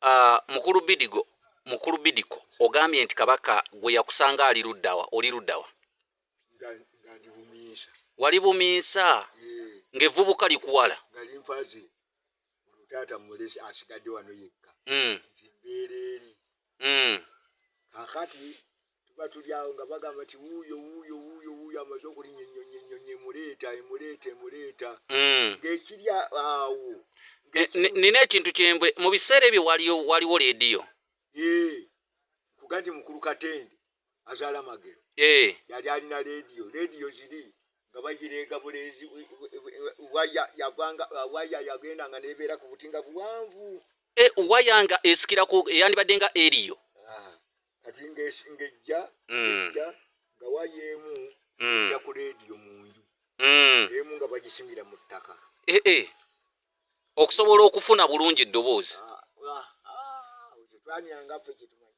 Uh, mukulu bidigo mukulu bidiko ogambye nti kabaka gwe yakusanga ali luddawa oli luddawa wali buminsa ng'evvubuka likuwala mm. kakati tuba tuli awo nga bagamba nti wuuyo wuuyo wuuyo wuuyo amaze okulinya ennyonyi ennyonyi emuleeta emuleeta emuleeta mm. ng'ekiri awo eh, nina ekintu kyembwe mu biseera ebyo waliwo leediyo kugandi mukulu katende azaala magero eh. yali alina lediyo lediyo ziri nga bagireega buleezi waya yavanga uh, waya yagenda nga nebeera ku buti nga buwanvu eh, waya nga esikirako eyandibadde nga eriyo ah, kati ngejja mm. nga waya emu mm. ja ku lediyo mu nju mm. emu nga bagisimira mu ttaka eh, okusobola okufuna bulungi eddoboozi ah, ah, twanyangaffe kyetumanyi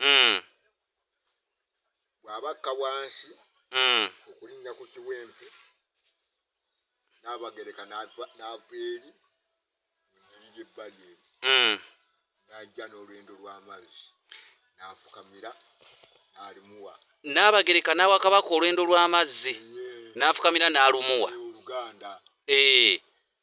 mm. bw'aba akka wansi mm. okulinnya ku kiwempe n'abagereka n'ava eri mu nyiri ly'ebbali eri mm. n'ajja n'olwendo lw'amazzi n'afukamira n'alimuwa n'abagereka n'awa kabaka olwendo lw'amazzi n'afukamira n'alumuwa oluganda ee eh.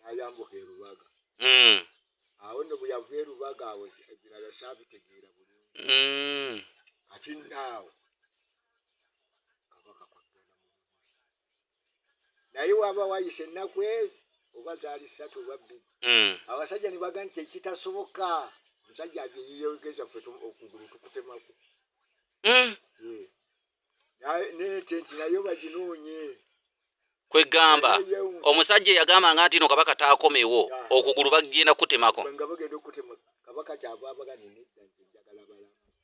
n'ayambuka e Lubaga. Hmm. Awo nno bwe yava e Lubaga awo ebirala saabitegeera bulungi. Hmm. Kati nno awo kabaka kwaggana mu bubuzi. Naye waba wayise ennaku ezi oba zaali ssatu oba bbiri. Hmm. Abasajja ne baga nti ekitasoboka omusajja abyeyeyogeza ffe okugulu tukutemaku. kwegamba omusajja eyagamba nga ntino kabaka takomewo okugulu bagenda kutemako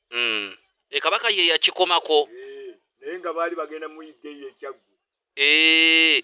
hmm. e kabaka ye yakikomako eh, naye nga baali bagenda muyigga eyo ekyaggu eh,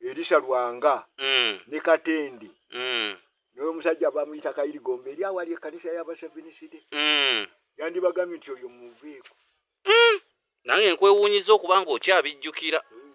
Elisha Lwanga mm. ne Katendi mm. noyo omusajja bamuyita Kayirigombe eri awali ekkanisa y'abaseviniside mm. yandibagambye nti oyo muveeko mm. nange nkwewuunyiza okuba nga okyabijjukira mm.